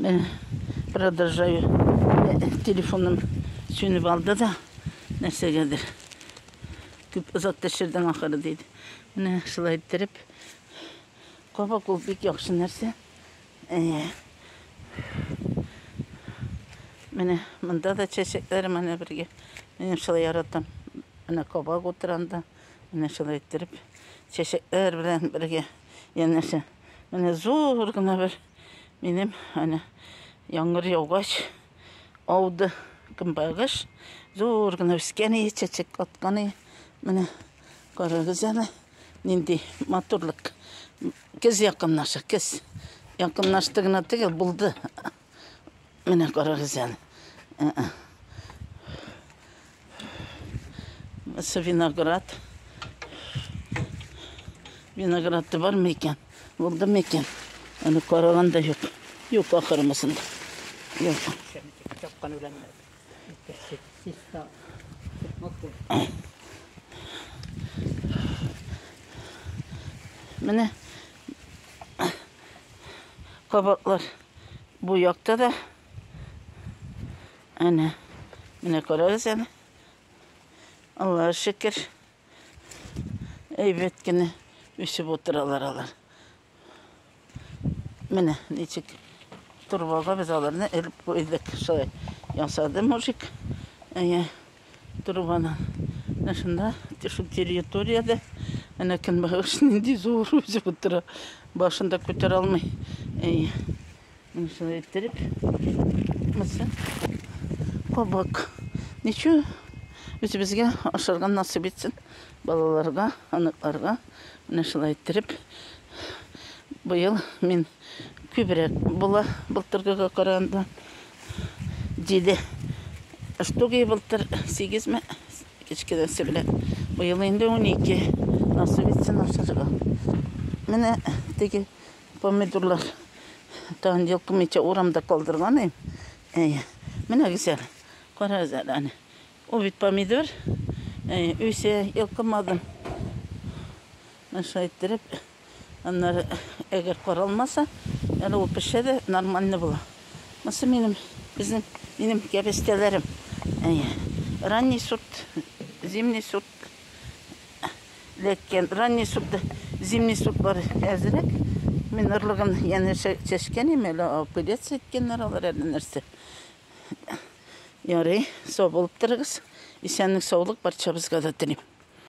Мен продолжаю телефоным сүнеп алды да нәрсәгәдер. Күп озак тешердең ахыры диде. Менә шулай иттереп кабак ул бик яхшы нәрсә. Әйе. Менә монда да чәчәкләр менә бергә. Мин шулай яратам. Менә кабак утыранда менә шулай иттереп чәчәкләр белән бергә янәшә. Менә зур гына бер Минем әнә яңгыр яугач ауды кымбагыш. Зур гына үскән ие, чәчәк аткан ие. Менә карагыз әле, нинди матурлык. Кез якынлаша, кез. Якынлашты гына түгел, булды. Менә карагыз әле. Мәсе виноград. Виноград да бармы икән? Булдымы икән? Аны караган да юк. Юк, ахырмысын. Юк. Чапкан белән. Менә кабаклар бу якта да Әнә, менә карагыз әле. Аллага шөкер. Әйбәт кенә үсеп утыралар алар. Менә ничек торбага без аларны элеп куйдык. Шулай ясады мужик. Әйе, торбаны. Менә шунда, шул территорияда әнә көнбагыш нинди зур үсеп утыра. Башында күтәрә алмый. Әйе. Муса иттереп. Муса. Кабак. Ничу үзебезгә ашарга насып итсен. Балаларга, аныкларга. Менә шулай иттереп. Быел мин күбрәк була былтыргыга караганда. Җиде штуги былтыр сигезме кечкенәсе белән. Быел инде унике. Насып итсен ашарга. Менә теге Помидорлар тагын йолкымыйча урамда калдырган ем. Әйе. Менә гүзәл. Карагыз әле аны. Ул бит помидор. Әйе, үсә, йолкымадым. Шулай иттереп, аннары әгәр каралмаса, әле ул пешә дә нормально була. Монысы минем, безнең, минем кәбестәләрем. Әйе. Ранний сорт, зимний сорт. эләккән. Ранний сукта зимний сук бар әзрәк. Мин орлыгын янәшә чәчкән име, әле апелец иткәннәр алар әле нәрсә. Ярый, сау булып торыгыз. Исәнлек, саулык барчабызга да телим.